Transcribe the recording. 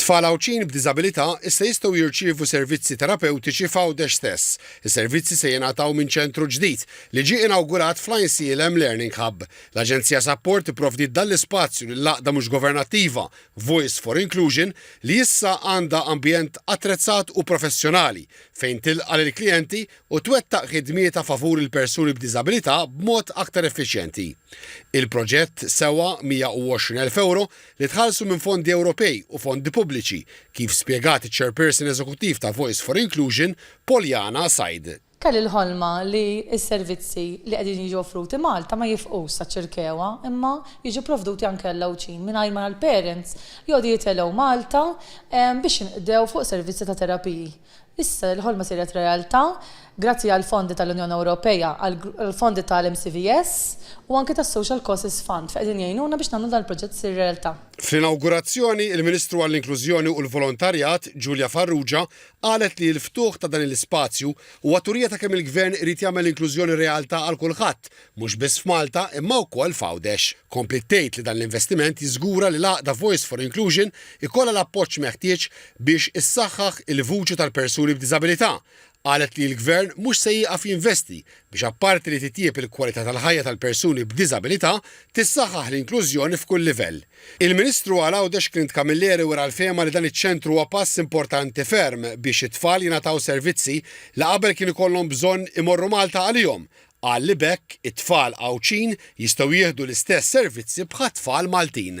Tfal Għawdxin b'diżabilità issa jistgħu jirċievu servizzi terapewtiċi f'Għawdex stess. Is-servizzi se jingħataw minn ċentru ġdid li ġie inawgurat fl-Għajnsielem Learning Hub. L-Aġenzija Sapport ipprovdiet dan l-ispazju lill-għaqda mhux governattiva Voice for Inclusion li issa għandha ambjent attrezzat u professjonali fejn tilqa' lill-klijenti u twettaq ħidmietha favur il-persuni b'diżabilità b'mod aktar effiċjenti. Il-proġett sewa 120 elf ewro li tħallsu minn fondi Ewropej u fondi pubbliċi, kif spjegat iċ-Chairperson Eżekuttiv ta' Voice for Inclusion, Polyana Said. Kelli l-ħolma li s-servizzi li qegħdin jiġu offruti Malta ma jifqux saċ-Ċirkewwa imma jiġu provduti anke għall-Għawdxin mingħajr ma l-parents jgħodu jitelgħu Malta biex jinqdew fuq servizzi ta' terapiji. Issa li l-ħolma siret realtà, grazzi għall-fondi tal-Unjoni Ewropea, għall-fondi tal-MCVS u anki tas-Social Causes Fund li qegħdin jgħinuna biex nagħmlu dan il-proġett isir realtà. Fl-inawgurazzjoni, il-Ministru għall-Inklużjoni u l-Volontarjat, Julia Farrugia, qalet li l-ftuħ ta' dan l-ispazju huwa turija ta' kemm il-Gvern irid jagħmel l-inklużjoni realtà għal kulħadd mhux biss f'Malta imma wkoll f'Għawdex. Kompliet tgħid li dan l-investiment jiżgura li l-għaqda Voice for Inclusion ikollha l-appoġġ meħtieġ biex issaħħaħ il-vuċi tal-persuni b'diżabilità. Qalet li l-Gvern mhux se jieqaf jinvesti biex apparti li titjieb il-kwalità tal-ħajja tal-persuni b'diżabilità, tissaħħaħ l-inklużjoni f'kull livell. Il-Ministru għal Għawdex Clint Camilleri wera l-fehma li dan iċ-ċentru huwa pass importanti ferm biex it-tfal jingħataw servizzi li qabel kien ikollhom bżonn imorru Malta għalihom, Qal li b'hekk it-tfal Għawdxin jistgħu jieħdu l-istess servizzi bħat-tfal Maltin.